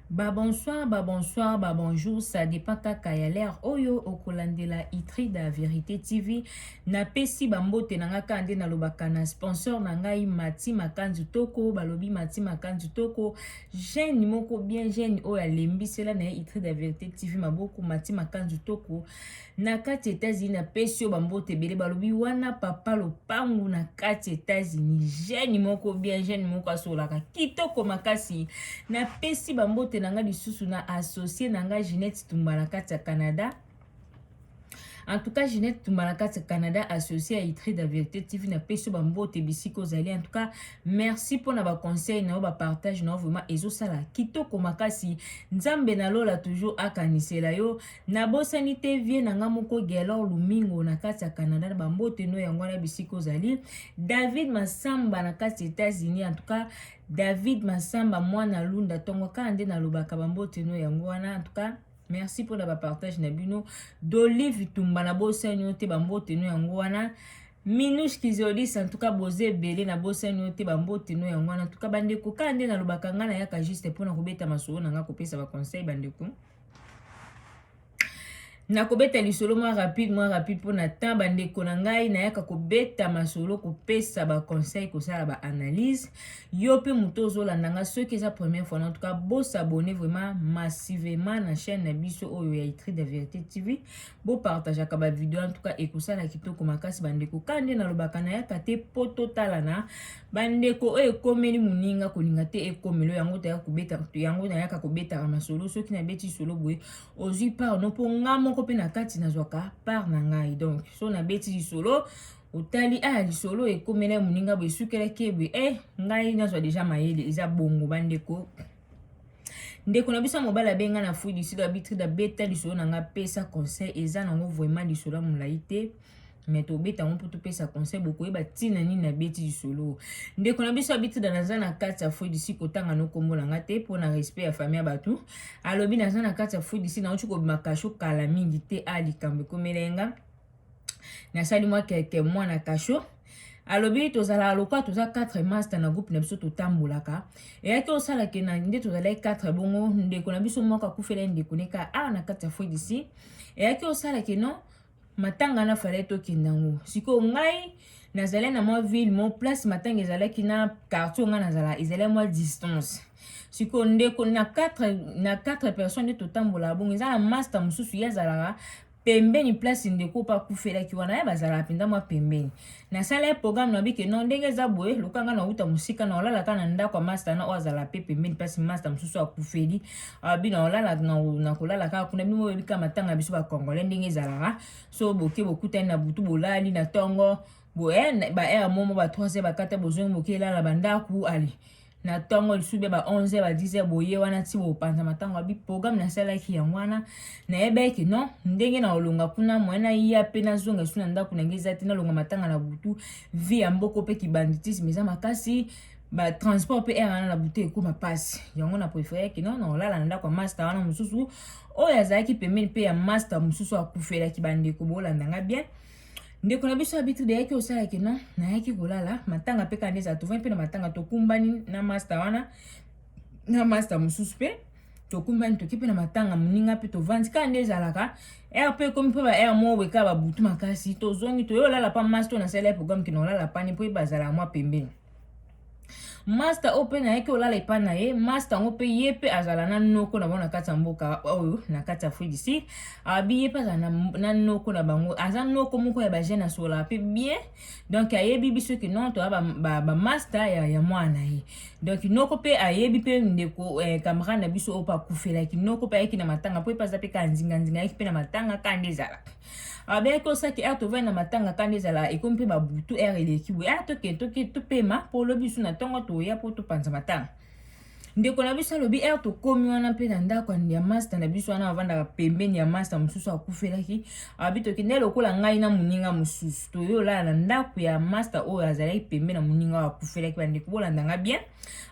Ba bonsoir, ba bonsoir, ba bonjour, ça dépend kaka ya l'heure oyo okolandela Itrida Verite TV. Napesi ba mbote na nga kaka nde nalobaka na sponsor na ngai Mati Makanzu Toko, balobi Mati Makanzu Toko, jeune moko bien jeune oyo alembisela na ye Itrida Verite TV maboko Mati Makanzu Toko. na kati Etats-Unis na pesi yo bambote ebele balobi wana papa lopangu na kati Etats-Unis jeune moko bien jeune moko asolaka kitoko makasi na pesi bambote na nga lisusu na associe na nga Ginette Tumba na kati ya Canada en tout cas Ginette Tumba na kati ya Canada associe ya Itri da Verite TV na pesi yo bambote bisika ozali en tout cas merci mpo na baconseil na yo bapartage na yo vraiment ezosala kitoko makasi nzambe na lola toujours akanisela yo nabosani te vie na nga moko gelor lumingo na kati ya canada na bambote no yango wana bisika ozali david masamba na kati ya états-unis en tout cas david masamba mwana lunda ntongo kaka nde nalobaka bambote no yango wana en tout cas merci mpona bapartage na bino dolive tumba na bosani yo te bambote no yango wana minus kizolis en tout cas boza ebele na bosani yo te bambote no yango wana en tout cas bandeko kaka nde nalobaka ngai nayaka juste mpona kobeta masolo na ngai kopesa baconseil bandeko nakobeta lisolo mwa rapide mwa rapide mpo na temps bandeko na ngai nayaka kobeta masolo kopesa baconseil kosala baanalyse yo mpe moto ozolanda ngai soki eza première fois en tout cas bosabone vraiment massivement na chaîne na biso oyo ya itri de verité tv bo partageaka ba video en tout cas ekosala kitoko makasi bandeko ka nde nalobaka nayaka te mpo totalana bandeko oyo ekomeli moninga kolinga te ekomelo yango taya kobeta yango nayaka kobetaka masolo soki nabeti solo boye ozwi part no mpo nga moko mpe na kati nazwaka part na ngai donc so nabeti lisolo otali aya ah, lisolo ekomela moninga boye esukelaki eboye e eh, ngai nazwa deja mayele eza bongo bandeko ndeko na biso ya mobali abenga na fui du sud abitride abeta lisolo na ngai apesa conseil eza nango vraiment lisolo ya molai te me tobeta yango mpo topesa conseil bokoyeba ntina nini nabeti lisolo ndeko na biso abitride naza na kati ya fui du sud kotanga no nkombo na ngai te mpo na respect ya famille ya bato alobi naza na kati ya fui du sud nauti kobima kasho kala mingi te a ah, likambo ekomela ye ngai nasali mwa keke mwana kasho alobi tozalaka lokola toza 4 master na groupe na biso totambolaka eyaki osala ke na nde tozalaki 4 bongo ndeko na biso moko akufela ndeko neka awa na kati ya foi d'ici eyaki osala ke non matanga na fale tokenda yango sikoyo ngai nazalaki na mwa ville mo place matanga ezalaki na quartier ngai nazala ezalaki mwa distance sikoyo ndeko na 4 na 4 personnes nde totambolaka bongo eza na master mosusu ye azalaka pembeni place ndeko mpe akufelaki wana ye bazalaka mpenza mwa pembeni nasala ye programme na bike no ndenge eza boye loka ngai nauta mosika na olalaka na ndako ya masta na oyo azala mpe pembeni place masta mosusu akufeli abi na olala na kolala kaka kuna bino boyebi kaka matanga biso bacongolais ndenge ezalaka so boke bokutani na butu bolali na ntongo boye eh, ba heure momo ba 3 heure bakata bozongi boke elala bandako ale na ntongo lisusu bya ba 11 ya ba 10 ya boye wana nti bopanza matango ya biprograme nasalaki yango wana nayebaki non ndenge na olonga kuna moye naya mpe nazonga esu na ndako na ngai eza te nalonga matanga na butu vi ya mboko mpe kibanditisme eza makasi batransport mpe aire wana na bute ekoma mpasi yango na preferaki no naolala na ndako ya master wana mosusu oyo azalaki pembeni mpe ya master mosusu akufelaki bandeko bolanda nga bien ndeko na biso habitude ayaki osala ke non nayaki kolala matanga mpe kanda ezala tovandi mpe na matanga tokumbani na masta wana na masta mosusu mpe tokumbani toki mpe na matanga moninga mpe tovandi kaka nde ezalaka r mpe ekomi mpe ba r moko ekaka babutu makasi tozongi toyolala mpa masta oyo nasali ya programme kina olala pani mpo ye bazala mwa pembeni masta oyo mpe nayaki olala epai na ye masta yango mpe ye mpe azala na noko na bango na kati ya mboka oyo na kati ya afrique du sud abi ye mpe azala na, na noko na bango aza noko moko ya bajeune asololaka mpe bien donc ayebi biso ke non toya bamasta ba, ba ya, ya mwana na ye donc noko mpe ayebi mpe ndeko eh, camarade na biso oyo mpe akufelaki noko mpe ayaki na matanga mpo ye mpe aza mpe kaka nzinganzinga ayaki mpe na matanga kaka nde ezalaka abeki ko saki ere tovandi na matanga kanda ezala ekomi mpe babutu ere eleki boye ere toke toke topema mpo lobi bisu na ntongo toya mpo topanza matanga ndeko na biso alobi ere tokomi wana mpe na ndako ya masta na biso wana avandaka pembeni ya masta mosusu akufelaki abi tokende lokola ngai na moninga mosusu toyolala na ndako ya masta oyo azalaki pembeni na moninga oyo akufelaki bandeko bolanda ngai bien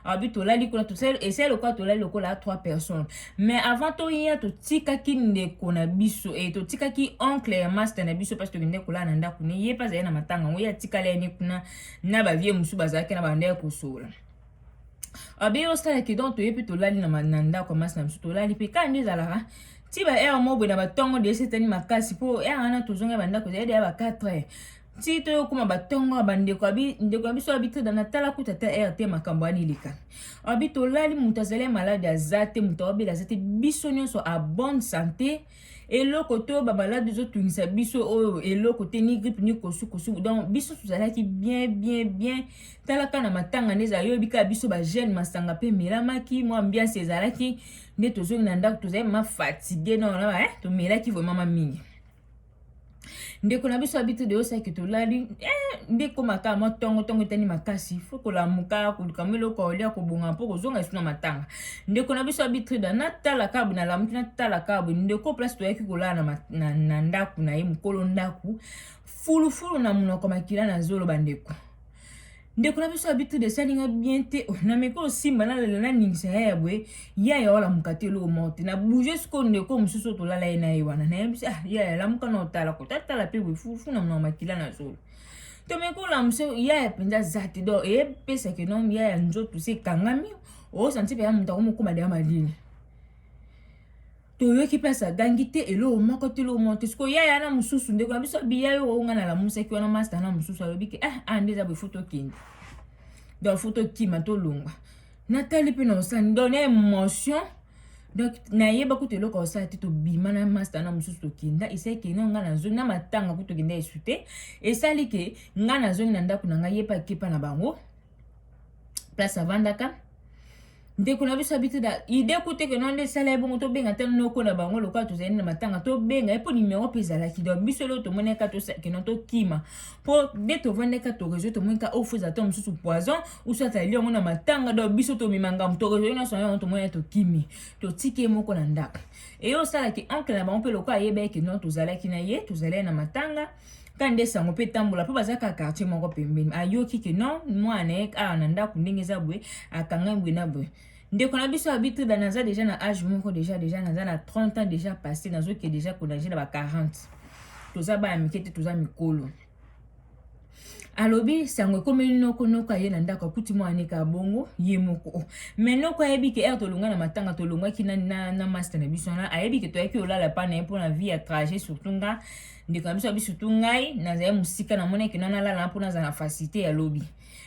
abi tolali kuna esali lokola tolali lokola trois personnes mais avant toya totikaki ndeko na biso e totikaki oncle ya master na biso mpasi tokende kolala na ndako ne ye mpe azali na matanga yango ye atikala ye ne kuna na bavie mosusu bazalaki na banda ya kosola abi osalaki donc toye mpe tolali na ndako ya masi na biso tolali mpe kani ezalaka ti ba heure moko boye na batongo de esetani makasi mpo heure wana tozonga bandako ezali deya ba 4 heures ti to yokoma batongo ya bandeko abi ndeko ya biso abi te na tala kuta ta rt makambo ani leka abi tolali moto azali malade aza te moto awabela aza te biso nyonso a bonne santé eloko to bamaladi ezotungisa biso oyo eloko te ni grippe ni kosukosu donc biso tozalaki bien bien bien talaka na matanga nde ezala yoyebi kaka biso bajeune masanga mpe emelamaki mwa ambiance ezalaki nde tozongi na ndako tozali mafatigue nona eh, tomelaki vraimen ma mingi ndeko na biso abiti de osaki tolali eh, nde ekoma kaka mwa ntongo ntongo etani makasi fo kolamuka koluka mwa eloko olia kobonga mpo kozonga esu na matanga ndeko na biso abitrida natala kabu nalamuki natala kabu ndeko place toyaki kolala na, na, na ndako na ye mokolo ndako fulufulu na monoko makila na zolo bandeko ndeko na biso abi tout de sali nga bien te oh, na meko osimba na lela na ningisa ya ya boye ya ya wala mukate lo morte na bouger siko ndeko mususu to lala ye na ye wana na yebisa ah ya ya la muka na otala ko ta tala pe boye fufu na mwa makila na zolo to meko la muso ya ya penza zati do e pesa ke non ya ya nzoto se kangami o santi pe ya muta ko mukuma de ya malini toyoki place agangi te eloko moko te eloko moko te sikoyo yaya wana mosusu ndeko na biso abiya yo oyo ngai nalamusaki wana masta wana mosusu alobi ke ah ah nde eza boye fo tokende donc fo tokima tolongwa natali mpe na osani donc na émotion donc nayeba kutu eloko ya osala te tobima na masta wana mosusu tokenda esali ke no ngai nazongi na matanga kutu tokenda esu te esali ke ngai nazongi na ndako na ngai ye mpe akepa na bango place avandaka ndeko na biso abiti na ide kutu eke nonde esala ye bongo tobenga ata noko na bango lokola tozali na matanga tobenga ye mpo nimero mpe ezalaki donc biso eloko tomoni eka tosakino tokima mpo nde tovandi eka torezo tomoni ka ofuza oh, ata mosusu poison usu atali yango na matanga donc biso tomema ngambo torezo nyonso yango tomoni ye tokimi totiki ye moko na ndako eye osalaki oncle na bango mpe lokola ayeba eke non tozalaki na ye tozalaki na matanga kande sango mpe tambola mpo baza kaka quartier moko pembeni ayoki ke non mwana na ye awa na ndako ndenge eza boye akanga boye na boye ndeko na biso abituda naza deja na age moko deja deja naza na 30 ans deja passé nazoke deja konage na ba 40 toza bana mike te toza mikolo alobi sango ekomeli noko noko aye na ndako akuti mwana neka bongo ye moko oh. me noko ayebi ke ere tolonga na matanga tolongwaki na, na, na master na biso wana ayebi ke toyaki olala pa na ye mpo na vie ya trajet surtout nga ndeko na biso ya biso tu ngai nazali mosika namonaki na nalala mpo nazala na facilité ya lobi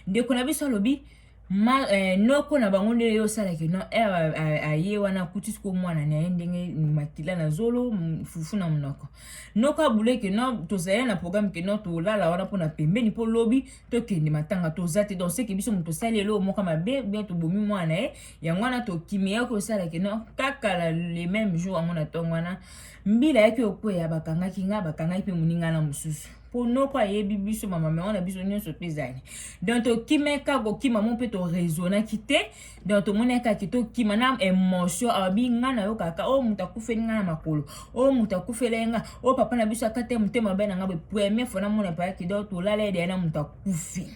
ndeko na biso alobi ma eh, noko na bango nde yo osalaki no ere eh, aye wana akuti siko mwana na ye ndenge makila na zolo fufu na monoko noko abule ke no tozali na programme ke no tolala wana mpo na pembeni mpo lobi tokende matanga toza te donc seke biso moto tosali eloo moko mabe bien tobomi mwana na ye yango wana tokimi ye kosala ke no kaka le même jour yango na ntongo wana mbila yaki okweya bakangaki nga bakangaki mpe moninga na mosusu mpo noko ayebi biso bamamero na biso nyonso mpe ezali donc tokimeka kokima mo mpe toraisonaki te donc tomonaka ke tokima na emotion abi nga nayokaka oyo oh, moto akufeli nga na makolo oyo oh, moto akufeli nga oyo oh, papa na biso akata ye motema mabe na nga boye première fois namona payaki donc tolala ye deya na moto akufi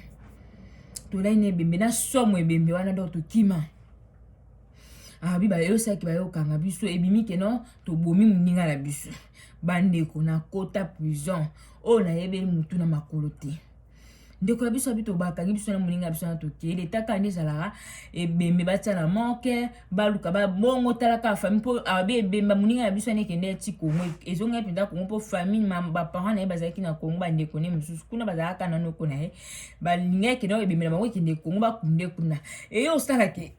tolai na ebembe na somo ebembe wana donc tokima abi ah, bayosaki bayokanga biso ebimi ke non tobomi moninga na biso bandeko na kota prison oyo nayebeli motu na makolo te ndeko na biso abi tobakangi biso na moninga na biso na tokei leta kaka nde ezalaka ebembe batya na moke baluka babongo talaka famille mpo abi ah, ebemba moninga na biso anekende ti kongo ezongaki mpenza kongo mpo famille baparent na ye bazalaki na kongo bandeko ne mosusu kuna bazalaka na noko na ye balingaki kende ebembe na bango ekende kongo bakunde kuna eye osalaki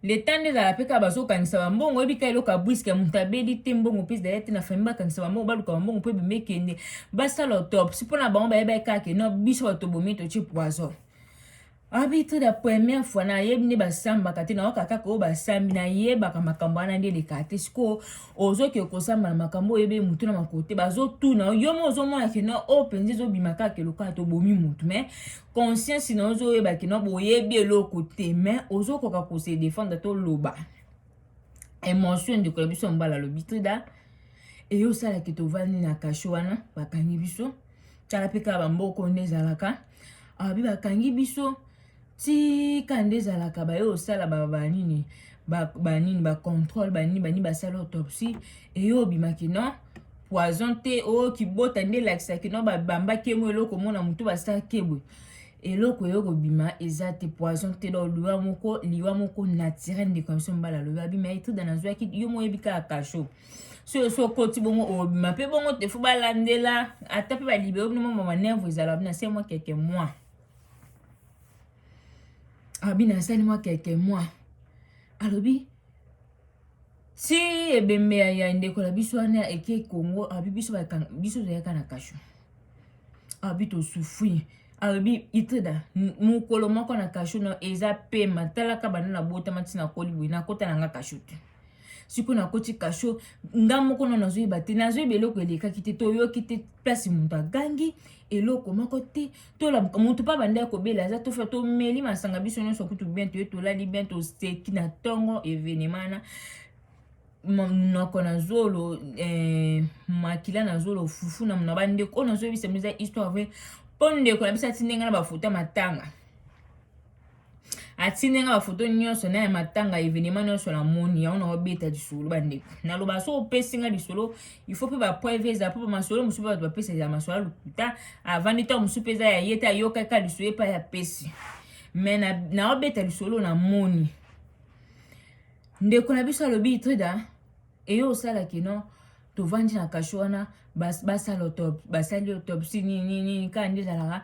leta nde ezala mpe kaka bazokangisa bambongo oyebi kaka eloko ya bwiske moto abeli te mbongo mpe ezali te na fami bakangisa bambongo baluka bambongo mpo ebimi ekende basala autopsi mpo na bango bayebaki kaka no biso bato bomi totie poison abitre la première fois nayebi nde basambaka te nayoka kaka oyo basambi nayebaka makambo wana nde eleka te sikoyo ozoke kosamba na makambo oyebi motu na makolo te bazotuna yo mo ozomona kena oyo mpenza ezobima kaka elokaa tobomi motu mai conscience na ozo yeba kino boyebi eloko te mais ozo koka ko se défendre to loba emotion ndeko ya biso mbala lobi trida eyo sala ke tovandi na kasho wana bakangi biso tala pe ka bamboko nde ezalaka abi bakangi biso tika nde ezalaka baye osala banini banini bacontrole banini banini basala autopsie eyo obimaki non poison te o oh, kibota nde elakisa kino babamba kemo eloko mona motu basala kebwe eloko eyo kobima eza te poison te donc liwa moko liwa moko naturel ndeko ya biso mobali alobi abima etrida nazwaki yo moyebi kaka kasho soyo so okoti bongo obima mpe bongo te fo balandela ata mpe balibere bino mwa manerve ezala bina se mwa keke mwa abina asali mwa keke mwa alobi ti ebembe ya, ya ndeko na biso wana eke congo abi biso biso toyaka na kasho abi tosufri abi itreda mokolo moko na kasho no eza pema talaka banda na botama ntina koli boye nakota na nga kasho te sikoyo nakoti kasho nga moko no nazoyeba te nazoyeba eloko elekaki te toyoki te place moto agangi eloko moko te tolamuka moto mpe abandaki kobela aza tofa tomeli masanga biso nyonso kutu bien toye tolali bien toseki na ntongo evenema wana monoko na zolo eh, makila na zolo fufu na mona bandeko oyo nazoyebisa biza histoire vrai mpo ndeko na biso atindenge na bafoto ya matanga atindi nga bafoto nyonso na ya matanga evenema nyonso na moni yango na obeta lisolo bandeko naloba so opesi nga lisolo il faut mpe bapreuve eza mpo bamasolo mosusu mpe bato bapesa eza masolo ya lokuta avandi ntango mosusu mpe eza ya ye te ayokaka lisolo epai ya pesi me na, na obeta lisolo na moni ndeko na biso alobi trida eye osalaki no tovandi na kasho wana basala autopsie basali autopsie nini nini kaka nde ezalaka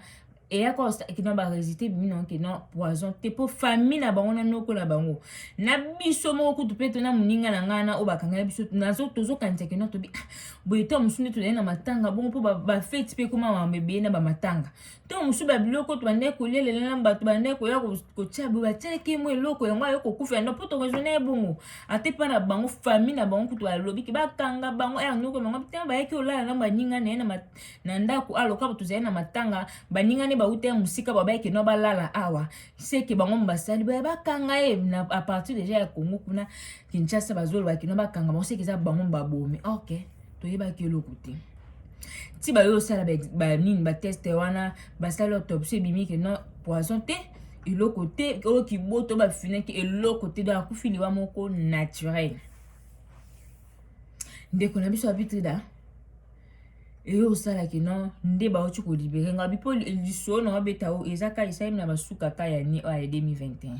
eyaka osaki na baresite bimi na oke na poison te mpo famille na bango na noko na bango na biso moko kutu mpe tona moninga na ngai na oyo bakangaki biso nazo tozokanisa kino tobi ah, boye to mosusu nde tozali na matanga bongo mpo bafeti mpe ekoma mambo ebele na bamatanga ntango mosusu babiloko oyo tobandaki kolia lelo na bato bandaki koya kotya boye batyaki mo eloko yango ayo kokufa yango mpo toraisonne ye bongo ata epai na bango famille na bango kutu alobi ke bakanga bango aya noko bango ntango bayaki olala na baninga na ye na ndako aloka bato zali na matanga baninga ne bauta ya mosika babayaki no balala awa seke bango basali boye bakanga ye na apartir deja ya kongo kuna Kinshasa bazoloba kino bakanga bango seke eza bango babomi ok toyebaki eloko te ti bayo osala banini bateste wana basali autopsie ebimi ke non poison te eloko te oyo kiboto bafinaki eloko te donc akufi liwa moko naturel ndeko na biso abitrida eyo osalaki no nde bauti kolibere nga bipo lisolo na wabeta o eza ka esalemi na basuka ka ya ni oyo ya 2021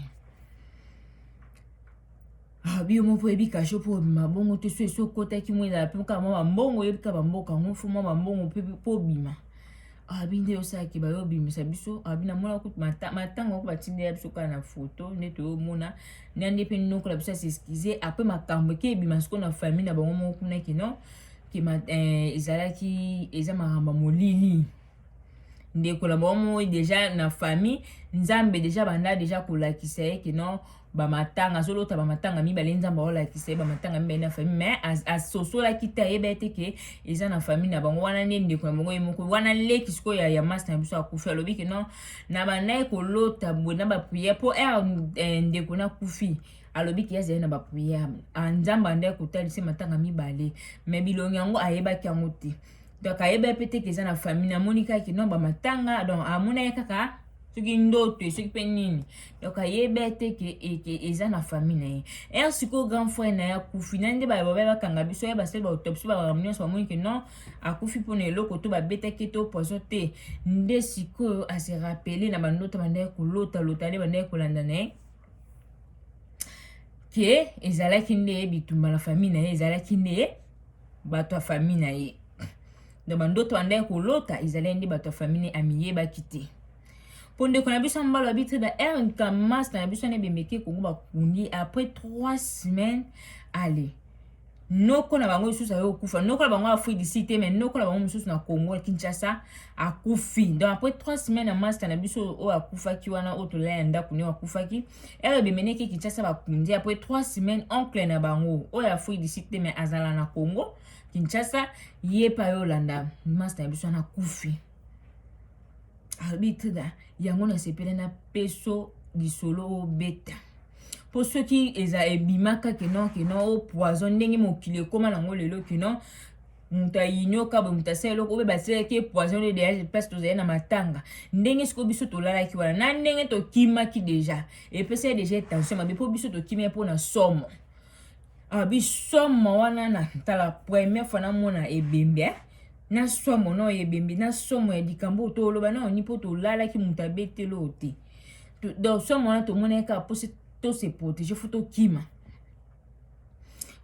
Ah, biyo moko oyebi kasho mpo obima bongo te so esi okotaki mwa ezala mpe kaka mwa bambongo oyebi kaka bamboka yango mfo mwa bambongo mpe mpo obima abi nde osalaki bayo obimisa biso abi namona kutu matanga oko batindela biso kaka na foto nde toyomona na nde mpe noko na biso asieskize apres makambo eke ebima siko na famille na bango moko kuna kino ke eh, ezalaki eza makambo molili ndeko na bango moi deja na famille nzambe deja banda deja kolakisa ye ke non bamatanga azolota bamatanga mibale nzambe aolakisa ye bamatanga mibale na famille mais asosolaki te ayeba ete ke eza na famille na bango wana nde ndeko na bango ye moko wana leki sikoyo ya, ya masta na biso akufi alobi ke non na bandaki kolota boye na bapriere mpo ere eh, ndeko nakufi alobi ke azali na bapriere ah, nzambe andaki kotalisa matanga mibale mais bilongi yango ayebaki yango te donc ayeba ye mpe te ke eza na famille namoni kaka kino bamatanga donc amona ye kaka soki ndoto soki mpe nini donc ayeba ye te ke eza na famille na ye er sikoyo grand frère na ye akufi na nde bababaya bakanga biso ye basali bautopsi bakambo nyonso bamoni ke non akufi mpo na eloko to babetaki to poison te nde sikoyo ase rappele na bandoto bandaki kolota lota nde bandaki kolanda na ye ke ezalaki nde bitumba na famille na ye ezalaki nde bato ya famille na ye donc bandoto andai kolota ezalaki nde bato ya famille amiyebaki te mpo ndeko na biso mbalo abitri ba rnk mas na biso na ebemeke kongo bakundi après 3 semaines ale noko na bango lisusu ayo kufa noko na bango afui d'ici te mais noko na bango mosusu na Congo ya Kinshasa akufi donc après trois semaines ya masta na biso oyo akufaki wana oyo tolala ya ndako nio akufaki ere ebemeneki Kinshasa bakundi après trois semaines oncle na bango oyo afui d'ici te mais azala na Congo Kinshasa ye pa yo olanda masta na biso wana akufi arbitre yango nasepele na peso lisolo obeta mpo soki eza ebimaka kino kino o poison ndenge mokili ekóma nango lelo kino moto ayinioka boye moto asala eloko oyo basalaki ye poison oyo deja place tozali na matanga ndenge sikoyo biso tolalaki wana na ndenge tokimaki deja epesa ye deja tension mabe mpo biso tokimi ye mpo na somo ah, bisomo wana na tala première fois namona ebembe eh? na somo na oyo ebembe na somo ya likambo oyo toloba na oni mpo tolalaki moto abeteli oyo te donc soki mwana tomonaki kaka mposi to se protéger fo tokima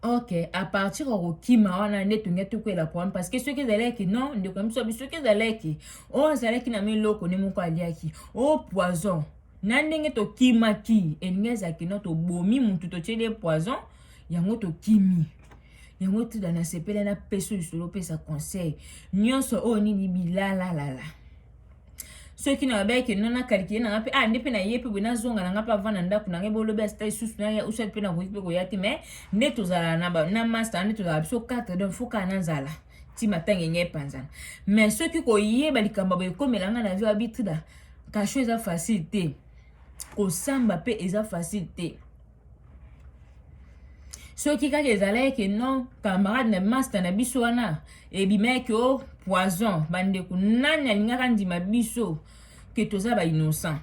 ok à partir ya kokima wana nde tonge tokwela problème parce que soki ezalaki non ndeko ya biso soki ezalaki oyo azalaki na miloko nde moko aliaki o poison na ndenge tokimaki elingi ezalaki no tobomi motu totyeli ye poison yango tokimi yango tida nasepele na peso lisolo opesa conseil nyonso oyo nini bilalalala soki na yabaki ke nona kalikile na nga mpe ah nde mpe na ye mpe boye nazonga na nga mpe avanda ndako na ngai bolobi asita lisusu na ya usati mpe nakoki mpe koya te mais nde tozala na, na masta nde tozala biso 4 donc fo kaka nazala ti matanga enye epanzana mais soki koyeba likambo boye ekomela ngai na vie abitrida kasho eza facile te kosamba mpe eza facile te soki kaka ezalaki ke non camarade na masta na biso wana ebimaki o oh, poison bandeko nani alingaka andima biso ke toza ba innocent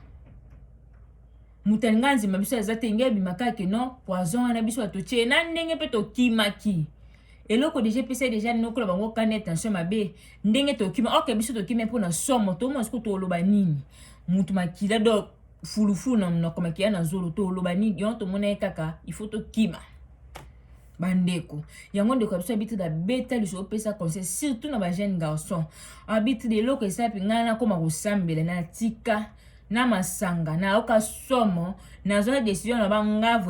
moto alinga andima biso aza te ngai ebima kaka ke non poison wana biso atotie na ndenge mpe tokimaki eloko deja epesa deja nokola bango kani attention mabe ndenge tokima oke biso tokimi mpo na somo tomosuku toloba nini moto makila donc fulufulu na monoko makiya na zolo toloba nini yango tomona ye kaka il faut tokima bandeko yango ndeko ya biso abitide abeta liso opesa conseil surtout na bajeune garçon abitide eloko esapi ngai nakoma kosambela na tika na masanga nayoka somo nazwa decision na bangavwe